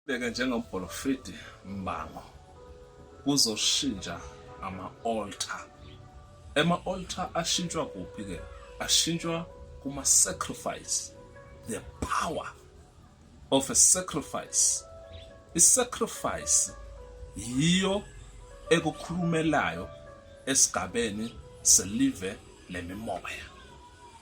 Beke njengobholofidi mbango kuzoshintsha ama-altar. Ema-altar ashintshwa kuphi-ke? Ashintshwa kuma-sacrifice, the power of a sacrifice. I-sacrifice yiyo ekukhulumelayo esigabeni selive lemimoya.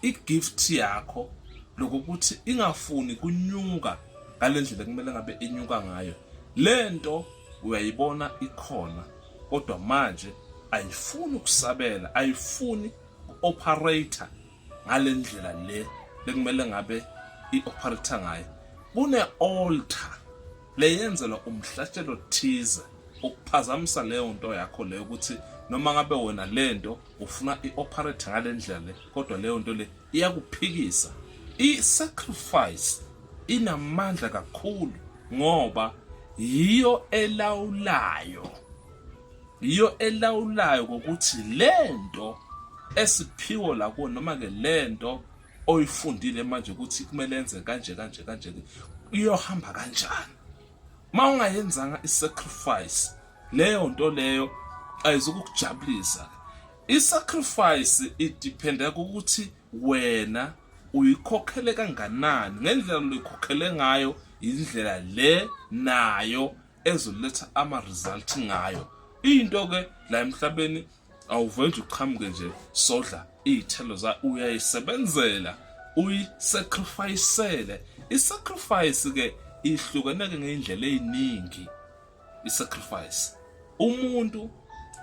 i-gift yakho lokuthi ingafuni kunyuka ngalendlela kumele ngabe inyuka ngayo lento uyayibona ikhona kodwa manje ayifuni ukusabela ayifuni ku-operator ngalendlela le bekumele ngabe i-operator ngayo kune-altar leyenzelwa umhlatshelo thize ukuphazamisa leyo nto yakho leyo ukuthi noma ngabe wena lento ufuna i-operate ngale ndlela le kodwa leyo nto le iyakuphikisa i-sacrifice inamandla kakhulu ngoba yiyo elawulayo yiyo elawulayo ngokuthi le nto esiphiwo lakuwo noma-ke le nto oyifundile manje ukuthi kumele enze kanje kanje kanje iyohamba kanjani uma ungayenzanga i-sacrifice leyo nto leyo ayizukukujabulisa isacrifice idependa ukuthi wena uyikhokhele kanganani ngendlela loyikhokhele ngayo indlela le nayo ezoletha ama result ngayo into ke la emhlabeni awuvele nje uqhamuke nje sodla izithelo za uyayisebenzela uyisacrificele isacrifice ke ihlukeneke ngeindlela eziningi isacrifice umuntu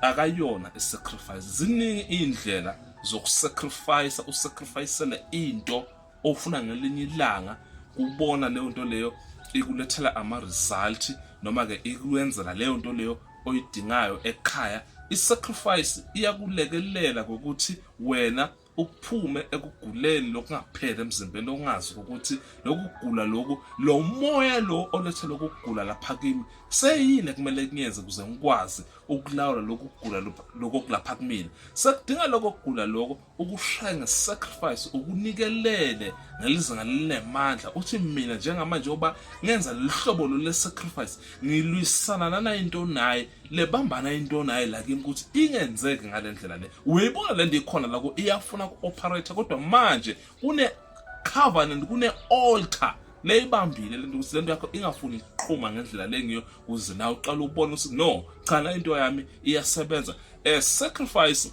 akayona isacrifice ziningi indlela zokusacrifice usacrificele into ofuna ngelinye ilanga kubona leyo nto leyo ikulethela ama result noma ke ikwenzela leyo nto leyo oyidingayo ekhaya isacrifice iyakulekelela ngokuthi wena ukuphume ekuguleni lokungapheli emzimbeni ongazi ukuthi lokugula loku lo moya lo olethe lokugula lapha kimi seyini ekumele kunyenze ukuze ngikwazi ukulawula lokugula lokho kulapha kumina sekudinga lokho kugula lokho ukushaya ngesacrifice ukunikelele ngelizinga linemandla uthi mina njengamanje oba ngenza lihlobo lo lesacrifice ngilwisana nana into naye lebambana into naye la kimi ukuthi ingenzeki ngalendlela le uyayibona le nto ikhona la iyafuna ku-operator kodwa manje kune-covenant kune-alter leyibambile lento ukuthi lento yakho ingafuni iqhuma ngendlela lengiyo kuze nawe uqala ubone ukuthi no cha la into yami iyasebenza a sacrifice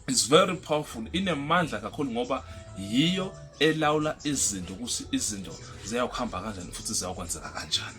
is very powerful inemandla kakhulu ngoba yiyo elawula izinto ukuthi izinto ziyakuhamba kanjani futhi ziyakwenzeka kanjani